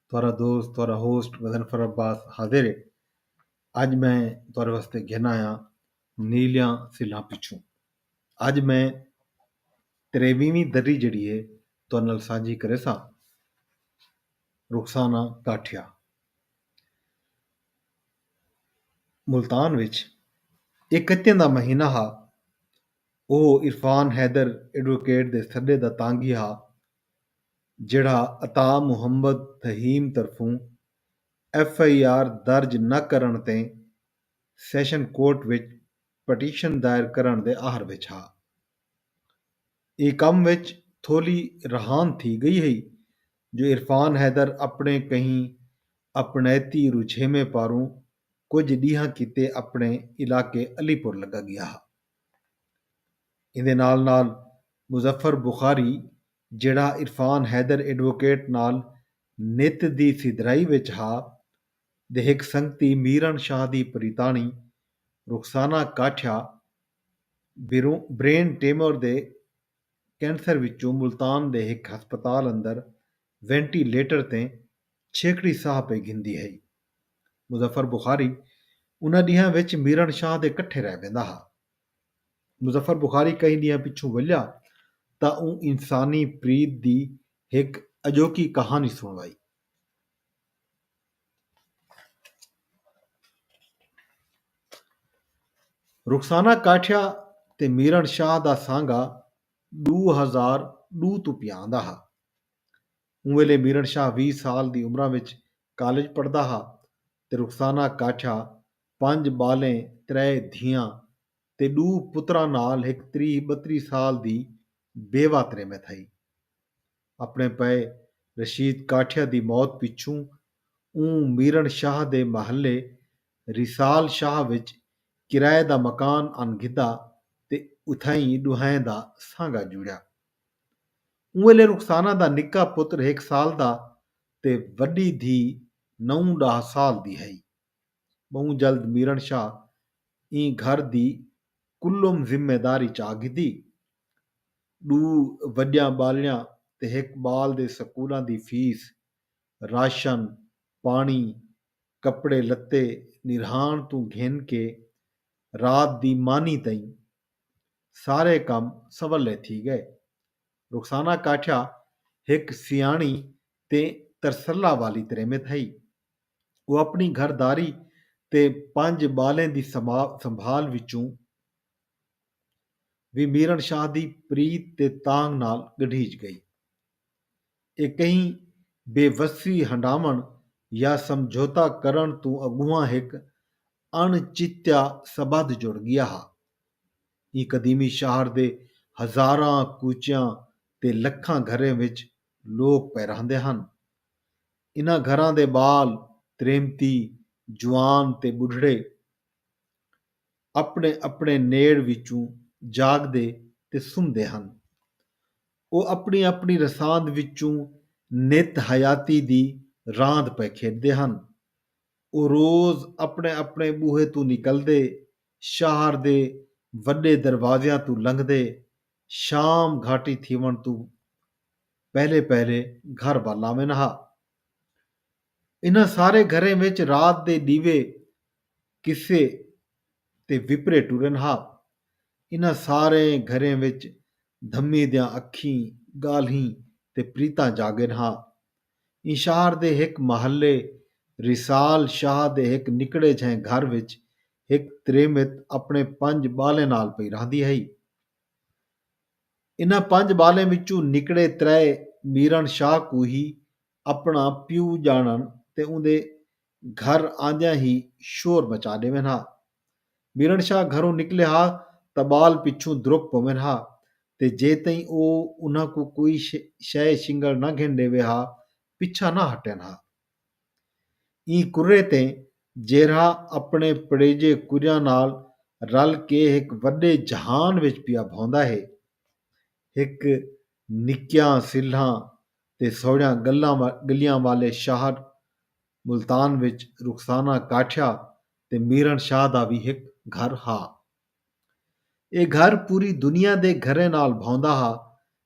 تہاݙا دوست تہاݙا ہوسٹ مظنفر عباس حاضر ہے اڄ میں تہاݙے واسطے گھن آیاں نیلیاں سلھاں پچھوں اڄ میں تریویویں دری جیڑھی ہے تہاݙے نال سانجھی کریساں رخسانہ کاٹھیا ملتان وچ اکتیں دا مہینہ ہا او عرفان حیدر ایڈووکیٹ دے سݙے دا تانگھی ہا جیڑھا عطا محمد فہیم طرفوں ایف آئی آر درج نہ کرݨ تے سیشن کورٹ وچ پٹیشن دائر کرݨ دے آہر وچ ہا۔ ایں کم وچ تھولی رہاند تھی ڳئی ہئی جو عرفان حیدر اپݨے کہیں اپݨیتی رجھیویں پاروں کجھ ݙینہاں کیتے اپݨے علاقے علی پور لڳا ڳیا ہا۔ ایندے نال نال مظفر بخاری جیڑھا عرفان حیدر ایڈووکیٹ نال نت دی سدھرائی وچ ہا، دے ہک سنگتی میرن شاہ دی پریتاݨی رخسانہ کاٹھیا برین ٹیمور دے کینسر وچوں ملتان دے ہک ہسپتال اندر وینٹی لیٹر تے چھیکڑی ساہ پئی گھندی ہئی۔ مظفر بخاری انہاں ݙینہاں وچ میرن شاہ دے کٹھے رہ ویندا ہا۔ مظفر بخاری کہیں ݙینہاں پچھوں ولیا تاں اوں انسانی پریت دی ہک اڄوکی کہاݨی سݨ وائی۔ رخسانہ کاٹھیا تے میرݨ شاہ دا سانگا ݙو ہزار ݙو توں پیا آندا ہا۔ اوں ویلے میرݨ شاہ ویہہ سال دی عمراں وچ کالج پڑھدا ہا تے رخسانہ کاٹھیا پنج ٻالیں، ترے دھیاں تے ݙو پتراں نال ہک تریہہ ٻتری سال دی بیوہ تریمت ہئی۔ اپݨے پئے رشید کاٹھیا دی موت پچھوں اوں میرݨ شاہ دے محلے ریسال شاہ وچ کرائے دا مکان آن گھدا تے اتھائیں ݙوہائیں دا سانگا جوڑیا۔ اوں ویلے رخسانہ دا نکا پتر ہک سال دا تے وݙی دھی نو ݙاہ سال دی ہئی۔ ٻہوں جلد میرݨ شاہ ایں گھر دی کلھم ذمہ داری چا گھدی۔ ݙو وݙیاں ٻالڑیاں تے ہک ٻال دے سکولاں دی فیس، راشن، پاݨی، کپڑے لتے نرہاݨ توں گھن کے رات دی مانی تئیں سارے کم سولے تھی ڳئے۔ رخسانہ کاٹھیا ہک سیاݨی تے ترسلا والی تریمت ہئی۔ او اپݨی گھر داری تے پنج ٻالیں دی سنبھال وچوں وی میرݨ شاہ دی پریت تے تانگھ نال ڳڈھیج ڳئی۔ اے کہیں بے وسی ہنڈاوݨ یا سمجھوتہ کرݨ توں اڳونہاں ہک اݨ چتیا سٻدھ جڑ ڳیا ہا۔ ایں قدیمی شہر دے ہزاراں کوچیاں تے لکھاں گھریں وچ لوک پئے رہندے ہن۔ انہاں گھراں دے ٻال، تریمتی، جوان تے ٻڈھڑے اپݨے اپݨے نیڑ وچوں جاڳدے تے سمدے ہن۔ او اپݨی اپݨی رساند وچوں نت حیاتی دی راند پئے کھیݙدے ہن۔ او روز اپݨے اپݨے ٻوہے توں نکلدے، شہر دے وݙے دروازیاں توں لنگھدے شام گھاٹی تھیوݨ توں پہلے پہلے گھر ٻل آویند ہا۔ انہاں سارے گھریں وچ رات دے ݙیوے، قصے تے وپرے ٹریند ہا۔ انہاں سارے گھریں وچ دھمی دیاں اکھیں، ڳالھیں تے پریتاں جاڳیند ہا۔ ایں شہر دے ہک محلے ریسال شاہ دے ہک نکڑے جھیں گھر وچ ہک تریمت اپݨے پنج ٻالیں نال پئی رہندی ہئی۔ انہاں پنج ٻالیں وچوں نکڑے ترائے میرݨ شاہ کوں ہی اپݨا پیو ڄاݨݨ تے اوندے گھر آندیاں ہی شور مچا ݙیون ہا۔ میرݨ شاہ گھروں نکلے ہا تاں ٻال پچھوں درک پوون ہا تے جے تئیں او انہاں کوں کوئی شئے شنگل نہ گھن ݙیوے ہا پچھا نہ ہٹن ہا۔ ایں کرھے تے جیرھا اپݨے پڑیجے کجھاں نال رل کے ہک وݙے جہان وچ پیا بھوندا ہے، ہک نکیاں سلھاں تے سوہݨیاں ڳلیاں والے شہر ملتان وچ رخسانہ کاٹھیا تے میرݨ شاہ دا وی ہک گھر ہا۔ ایہ گھر پوری دنیا دے گھریں نال بھاوندا ہا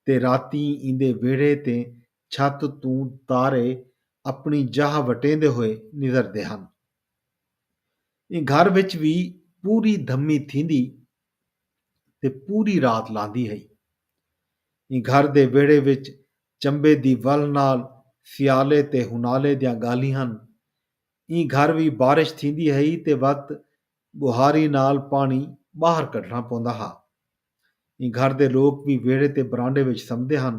تے راتیں ایندے ویڑھے تے چھت توں تارے اپݨی جاہ وٹیندے ہوئے نظردے ہن۔ ایں گھر وچ وی پوری دھمی تھیندی تے پوری رات لاندی ہئی۔ ایں گھر دے ویڑھے وچ چمبے دی ول نال سیالے تے ہنالے دیاں ڳالھیں ہن۔ ایں گھر وی بارش تھیندی ہئی تے وت ٻوہاری نال پاݨی ٻاہر کڈھݨا پوندا ہا۔ ایں گھر دے لوک وی ویڑھے تے برانڈے وچ سمدے ہن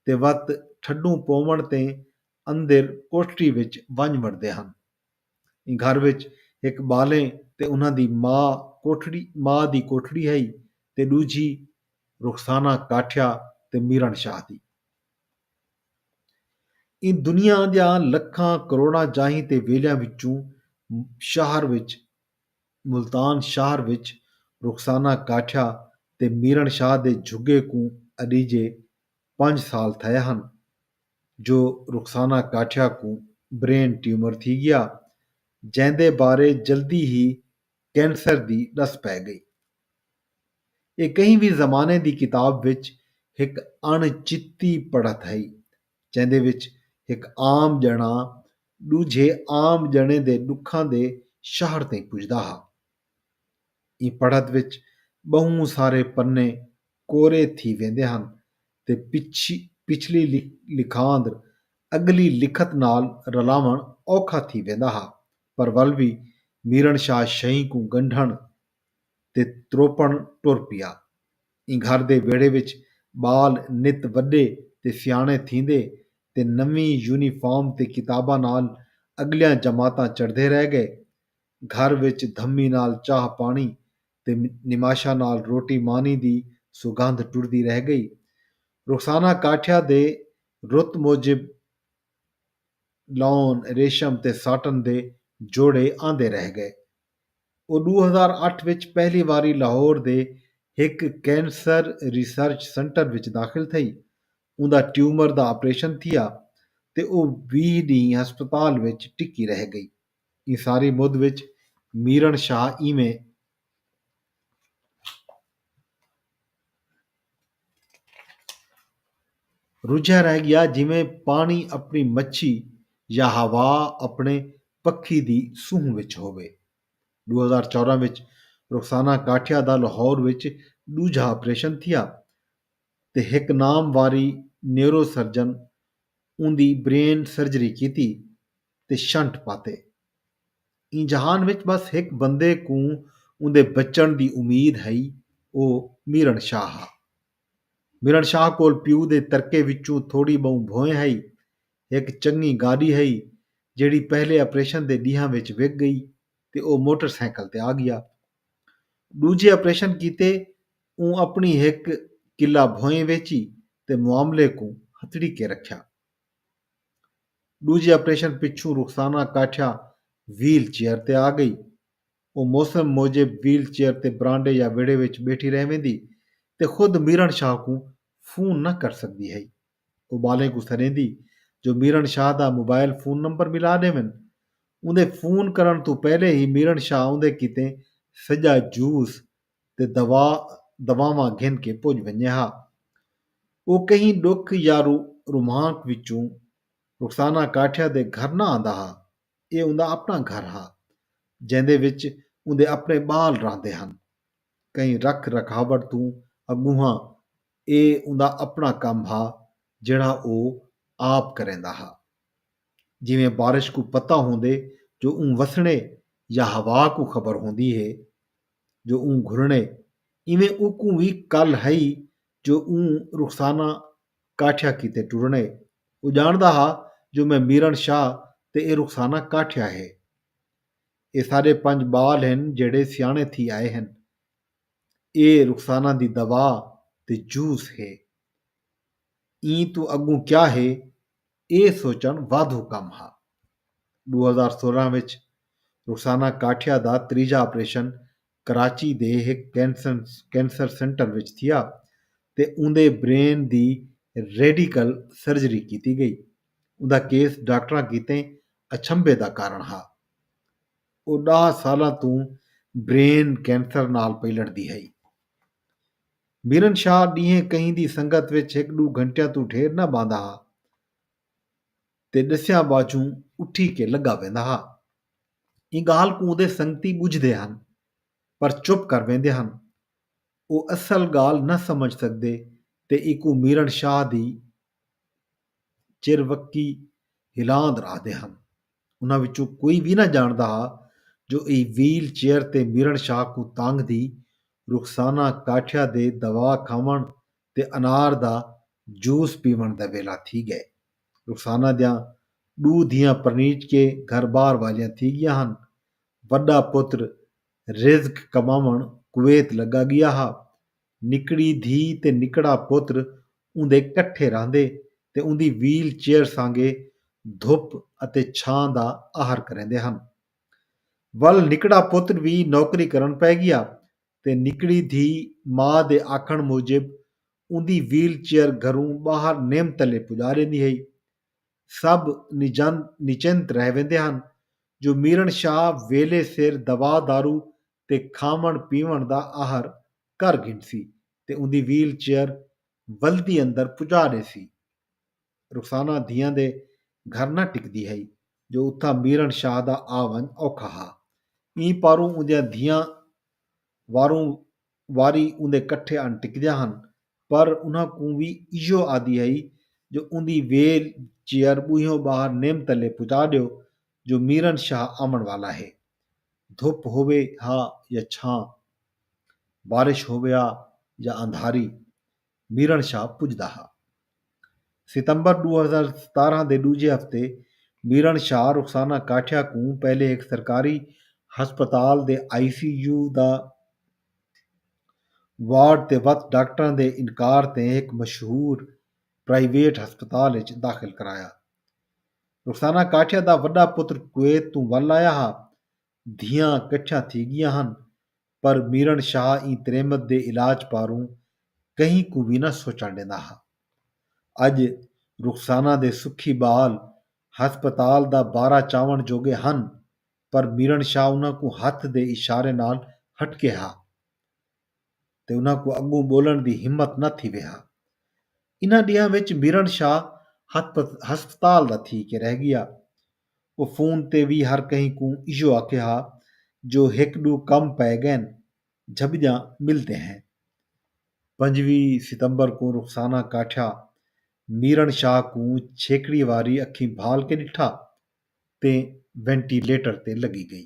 تے وت ٹھڈوں پووݨ تے اندر کوٹھڑی وچ ونڄ وڑدے ہن۔ ایں گھر وچ ہک ٻالیں تے انہاں دی ماء کوٹھڑی ماء دی کوٹھڑی ہئی تے ݙوجھی رخسانہ کاٹھیا تے میرݨ شاہ دی۔ ایں دنیا دیاں لکھاں کروڑاں جاہیں تے ویلیاں وچوں شہر وچ ملتان شہر وچ رخسانہ کاٹھیا تے میرݨ شاہ دے جھڳے کوں اݙیجھے پنج سال تھئے ہن جو رخسانہ کاٹھیا کوں برین ٹیومر تھی ڳیا جیندے بارے جلدی ہی کینسر دی ݙس پئے ڳئی۔ ایہ کہیں وی زمانے دی کتاب وچ ہک اݨ چتی پڑھت ہئی جیندے وچ ہک عام ڄݨا ݙوجھے عام ڄݨے دے ݙکھاں دے شہر تئیں پڄدا ہا۔ ایں پڑھت وچ ٻہوں سارے پنے کورے تھی ویندے ہن تے پچھلی لکھاندر اڳلی لکھت نال رلاوݨ اوکھا تھی ویندا ہا۔ پر ول وی میرݨ شاہ شئیں کوں ڳنڈھݨ تے تروپݨ ٹر پیا۔ ایں گھر دے ویڑھے وچ ٻال نت وݙے تے سیاݨے تھیندے تے نویں یونیفارم تے کتاباں نال اڳلیاں جماعتاں چڑھدے رہ ڳئے۔ گھر وچ دھمی نال چاہ پاݨی تے نماشاں نال روٹی مانی دی سوگندھ ٹردی رہ ڳئی۔ رخسانہ کاٹھیا دے رت موجب لون، ریشم تے ساٹن دے جوڑے آندے رہ ڳئے۔ او ݙو ہزار اٹھ وچ پہلی واری لاہور دے ہک کینسر ریسرچ سنٹر وچ داخل تھئی۔ اوندا ٹیومر دا آپریشن تھیا تے او ویہہ ݙینھ ہسپتال وچ ٹکی رہ ڳئی۔ ایں ساری مدھ وچ میرݨ شاہ ایویں رجھیا رہ گیا جیویں پاݨی اپݨی مچھی یا ہوا اپݨے پکھی دی سونہہ وچ ہووے۔ ݙو ہزار چوداں وچ رخسانہ کاٹھیا دا لاہور وچ ݙوجھا آپریشن تھیا تے ہک نامواری نیورو سرجن اوندی برین سرجری کیتی۔ تے شنٹ پاتے۔ ایں جہان وچ بس ہک بندے کوں اوندے بچݨ دی امید ہئی او میرݨ شاہ ہا۔ میرݨ شاہ کول پیو دے ترکے وچوں تھوڑی ٻہوں بھوئیں ہئی، ہک چنڳی گاݙی ہئی جیڑھی پہلے آپریشن دے ݙینہاں وچ وک ڳئی تے او موٹر سائیکل تے آڳیا۔ ݙوجھے آپریشن کیتے اوں اپݨی ہک کلھا بھوئیں ویچی تے معاملے کوں ہتھڑیکے رکھیا۔ ݙوجھے آپریشن پچھوں رخسانہ کاٹھیا ویل چیئر تے آ ڳئی۔ او موسم موجب ویل چیئر تے برانڈے یا ویڑھے وچ ٻیٹھی رہ ویندی تے خود میرݨ شاہ کوں فون نہ کر سڳدی ہئی۔ او ٻالیں کوں سݙیندی جو میرݨ شاہ دا موبائل فون نمبر ملا ݙیون۔ اوندے فون کرݨ توں پہلے ہی میرݨ شاہ اوندے کیتے سڄا جوس تے دوا دواواں گھن کے پج ونجے ہا۔ او کہیں ڈکھ یا رو رومانک وچوں رخسانہ کاٹھیا دے گھر نہ آندا ہا۔ اے اوندا اپنا گھر ہا۔ جیندے وچ اوندے اپنے بال راہندے ہن۔ کہیں رکھ رکھاوٹ توں اگونہاں اے اوندا اپنا کم ہا جیڑھا او آپ کریندا ہا۔ جیویں بارش کوں پتہ ہوندے جو اوں وسنڑے یا ہوا کوں خبر ہوندی ہے۔ جو اوں گھرنڑے ایویں اوکوں وی کل ہئی جو اوں رخسانہ کاٹھیا کیتے ٹرنڑے۔ او جانڑدا ہا جو میں میرن شاہ تے اے رخسانہ کاٹھیا ہے۔ اے ساڈے پنج بال ہن جیہڑے سیانڑے تھی آئے ہن۔ اے رخسانہ دی دوا تے جوس ہے۔ ایں توں اڳوں کیا ہے اے سوچݨ وادھو کم ہا۔ ݙو ہزار سولہ وچ رخسانہ کاٹھیا دا تریجھا آپریشن کراچی دے ہک کینسر سینٹر وچ تھیا تے اوندے برین دی ریڈیکل سرجری کیتی ڳئی۔ اوندا کیس ڈاکٹراں کیتے اچھمبے دا کارݨ ہا۔ او ݙاہ سالاں توں برین کینسر نال پئی لڑدی ہئی۔ میرن شاہ ݙینہہ کہیں دی سنگت وچ ہک ݙو گھنٹیاں توں ڈھیر نہ ٻہندا ہا تے ݙسیاں ٻاجھوں اٹھی کے لڳا ویندا ہا۔ ایں ڳالھ کوں اوندے سنگتی ٻجھدے ہن پر چپ کر ویندے ہن۔ او اصل ڳالھ نہ سمجھ سڳدے تے ایکوں میرن شاہ دی چروکی ہلاند رہدے ہن۔ انہاں وچوں کوئی وی نہ جانڑدا ہا جو اے ویل چیئر تے میرن شاہ کوں تانگھ دی رخسانہ کاٹھیا دے دوا کھاونڑ تے انار دا جوس پیونڑ دا ویلا تھی گئے۔ رخسانہ دیاں ڈو دھیاں پرنیج کے گھر بار والیاں تھی گیاں ہن۔ وڈا پتر رزق کماونڑ کویت لگا گیا ہا نکڑی دھی تے نکڑا پتر اوندے کٹھے رہندے تے اوندی ویل چیئر سانگے دھپ اتے چھاں دا آہر کریندے ہن۔ ول نکڑا پتر وی نوکری کرݨ پئے ڳیا تے نکڑی دھی ماء دے آکھݨ موجب اوندی ویل چیئر گھروں ٻاہر نیم تلے پڄا ݙیندی ہئی۔ سب نجند نچنت رہ ویندے ہن جو میرݨ شاہ ویلھے سر دوا دارو تے کھاوݨ پیوݨ دا آہر کر گھنسی تے اوندی ویل چیئر ولدی اندر پڄا ݙیسی۔ رخسانہ دھیاں دے گھر نہ ٹکدی ہئی جو اتھاں میرݨ شاہ دا آ ونڄ اوکھا ہا۔ ایں پاروں اوندیاں دھیاں واروں واری اوندے کٹھے آن ٹکدیاں ہن پر انہاں کوں وی ایہو آہدی ہئی جو اوندی ویل چیئر ٻوہیوں ٻاہر نیم تلے پڄا ݙیو جو میرن شاہ آوݨ والا ہے۔ دھپ ہووے ہا یا چھاں، بارش ہوویا یا اندھاری، میرن شاہ پڄدا ہا۔ ستمبر ݙو ہزار ستارہاں دے ݙوجھے ہفتے میرن شاہ رخسانہ کاٹھیا کوں پہلے ہک سرکاری ہسپتال دے آئی سی یو دا وارڈ تے وت ڈاکٹراں دے انکار تے ہک مشہور پرائیویٹ ہسپتال اچ داخل کرایا۔ رخسانہ کاٹھیا دا وݙا پتر کویت توں ول آیا ہا۔ دھیاں کچھاں تھی ڳیاں ہن پر میرݨ شاہ ایں تریمت دے علاج پاروں کہیں کوں وی نہ سوچݨ ݙیندا ہا۔ اڄ رخسانہ دے سکھی ٻال ہسپتال دا بارہ چاوݨ جوڳے ہن پر میرݨ شاہ انہاں کوں ہتھ دے اشارے نال ہٹکے ہا۔ تے انہاں کوں اڳوں ٻولݨ دی ہمت نہ تھیوے ہا۔ انہاں ݙینہاں وچ میرݨ شاہ ہسپتال دا تھی کے رہ ڳیا۔ او فون تے وی ہر کہیں کوں ایہو آکھے ہا جو ہک ݙو کم پئے ڳئن، جھٻڄاں ملتے ہیں۔ پنجویں ستمبر کوں رخسانہ کاٹھیا میرݨ شاہ کوں چھیکڑی واری اکھیں بھال کے ݙٹھا تے وینٹی لیٹر تے لڳی ڳئی۔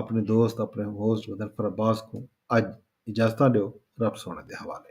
اپݨے دوست اپݨے ہوسٹ مظفر عباس کوں اڄ اجازتاں ݙیو رب سوہݨے دے حوالے۔